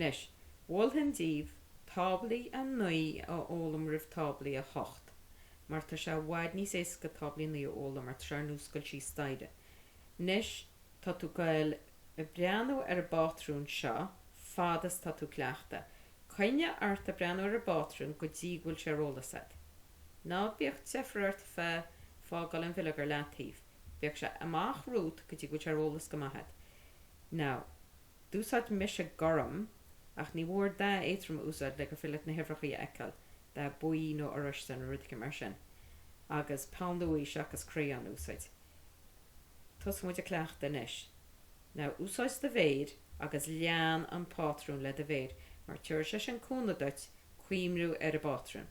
Anois, mholfainn daoibh táblaí 9 a fhoghlaim roimh táblaí 8, mar tá sé i bhfad níos éasca táblaí 9 a fhoghlaim mar tá sé ar nós ag goil síos staighre. Anois, tá tú goil ag breathnú ar an bpátrún seo fad is tá tú ag cleachtadh. Coinnigh ort ag breathnú ar an bpátrún go dtí go bhfuil sé ar eolas agat. Ná bíodh deifir ort faoi fágáil an bhileog ar leataobh. Bíodh sé amach romhat go dtí go bhfuil sé ar eolas go maith agat. Now. D'úsáid mise gorm, ach ní mhór dath éadtrom a úsáid le gur féidir leat na huimhreachaí a fheiceáil, dath buí nó oráiste nó rud éigin mar sin, agus peann luaidhe seachas crayon a úsáid. Tosóidh muid ag cleachtadh anois. Now, úsáid do mhéir agus lean an pátrún le do mhéir mar tabharfaidh sé sin cúnamh duit cuimhniú ar an bpátrún.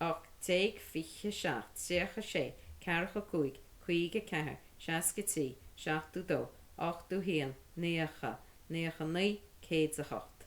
ocht déag, fiche a seacht, tríocha a sé, ceathracha a cúig, caoga a ceathair, seasca a trí, seachtú dó, ochtú haon, naocha, naocha naoi, céad 's a hocht.